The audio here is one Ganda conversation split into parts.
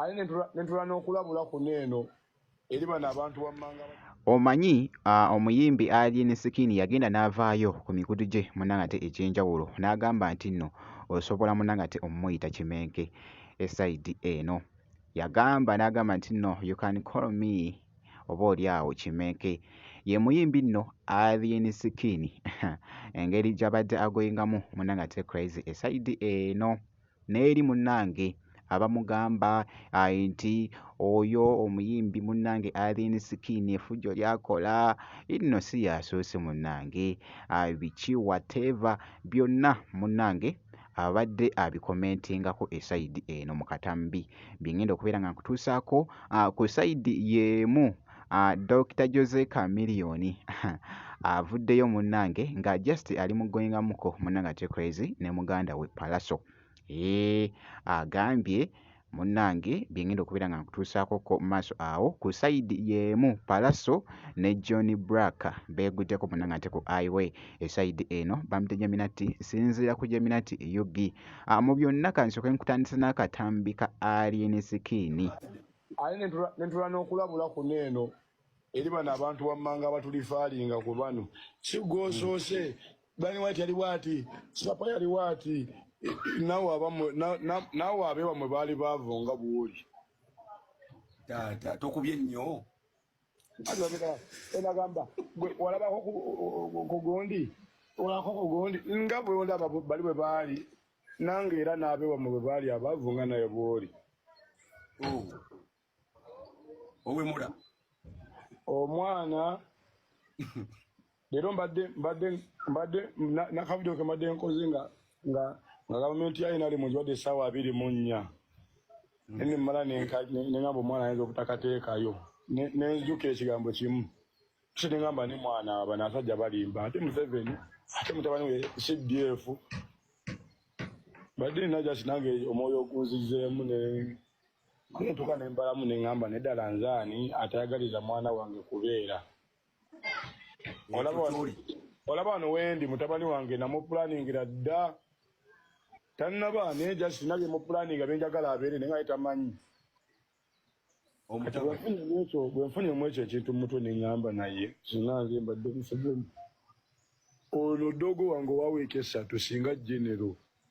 ali nentula n'okulabula kuno eno eri bano abantu wammanga omanyi omuyimbi alien sikini yagenda n'avaayo ku mikutu gye munanga te egyenjawulo n'agamba nti nno osobola munanga te omumuyita kimenke esaidi eno yagamba n'agamba nti nno you can call me oba oli awo kimenke ye muyimbi nno alien skin engeri gyabadde agoyingamu munange ate crazy esaidi eno n'eri munange abamugamba nti oyo omuyimbi munange alien skin efujjo lyakola inno si yasoose munange biki wateva byonna munange abadde abikomentingako esayidi eno mu katambi bye ngenda okubeera nga nkutuusaako ah, ku sayidi y'emu ah, Dokita Jose Chameleon avuddeyo munnange nga just ali mu goyingamuko munnange ate crazy ne muganda we Palaso agambye munnange bye ngenda okubeera nga nkutuusaako ko maaso awo ku sayidi y'emu palaso ne john brack beeguddeko bonna nga nte ku iway esayidi eno bamute jaminati sinziira ku jaminati ug ah, mu byonna kansooke nkutandisa n'akatambi ka alien sikiini aye nentula n'okulabula kuno eno eri bano abantu wammanga abatulifaalinga ku bano sigwosoose Bani White yali bwati, Sapa yali bwati, nawe abamwe nawe abe bamwe baali baavu nga buwuli. Taata tokubye nnyo. Alabika enagamba gwe walabako ku gundi olako ku gundi nga bwe ndaba bali bwe baali nange era n'abe bamwe bwe baali abaavu nga naye bw'oli. Oh. owemula omwana leero mbadde mbadde mbadde nakavidio ke mbadde nkoze nga nga nga gavumenti ya nrm nzibadde essaawa abiri mu nnya mm. ene mmala nengamba omwana ayinza obutakateekayo nenzijukira ekigambo kimu kye nengamba ne mwana aba nasajja balimba ate museveni ate mutabani we cdf badde nina jasi nange omwoyo ogunzizeemu ne Nentuka ne mbalamu ne ngamba ne ddala nzaani atayagaliza mwana wange kubeera olaba wano wendi mutabani wange namupulaningira dda tannaba naye just nina byemupulaninga byenjagala abeere naye nga yetamanyi bwenfunye mu ekyo ekintu mumutwe neŋamba naye zina nze mbadde museveni ono dogo wange owaweeka essatu singa genero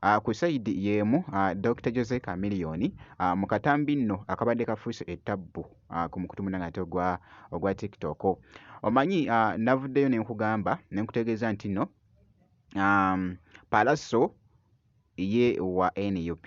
Ah, ku sayidi y'emu ah, Dr Jose Chameleone ah, mu katambi nno akabadde kafuuse ettabbu ku mukutu munange ate ogwa, ogwa TikTok omanyi navuddeyo ne nkugamba ne nkutegeeza nti nno um, palaso ye wa NUP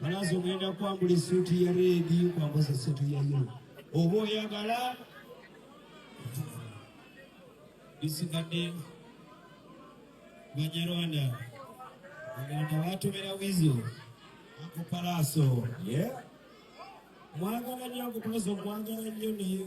Balaza ogenda kwambula esuuti ya reedi kwambuza esuuti ya yero oba oyagala bisigadde banyarwanda aganda batomera wizo akupalaaso mwagala nyo akupalaaso mwagala nyo naye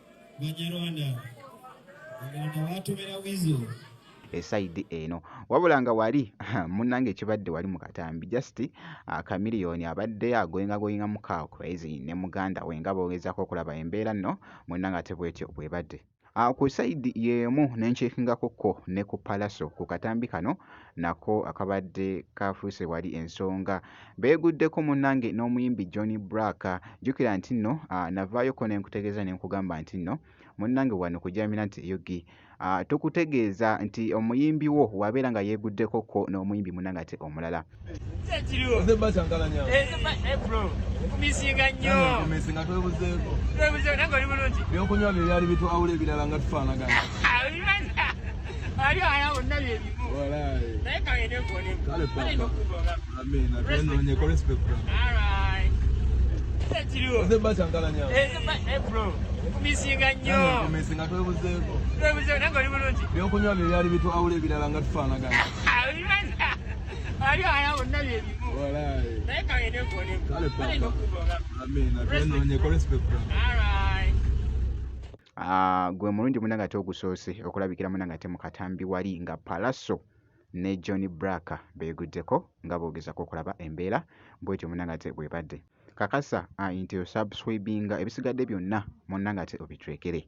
banyarwanda agenda watomera wizo esayidi eno wabula nga wali munange ekibadde wali mukatambi just akamiliyoni ah, abadde agoyingagoyinga mukakwezi ne muganda we nga bogezako okulaba embeera nno munange ate bwetyo bwebadde ah, ku sayidi yeemu nenkyekingako ko ne ku palaso ku katambi kano nako akabadde kaafuuse wali ensonga. Beeguddeko munnange n'omuyimbi John Blaq. Jjukira nti nno ah, navaayoko ne nkutegeeza ne nkugamba nti nno munnange wano kujaamira nti eyugi ah, tukutegeeza nti omuyimbi wo wabeera nga yeeguddeko ko n'omuyimbi munnange ate omulala. ebyokunywa bye byali bitwawula ebirala nga tufaanagana ebyokunywa bye byali bitwawula ebirala nga tufaanagana Wali wala wonna bye bimu. Walai. Naye kale ne kole. Kale papa. Amen. Atwende onye kole respect. All right. Ah, gwe mulungi muna ngate ogusoose okulabikira muna ngate mu katambi wali nga palaso ne John Braka beguddeko nga boogezako okulaba embeera bwetyo muna ngate bwebadde kakasa ah, nti osubscribinga ebisigadde byonna muna ngate obitwekere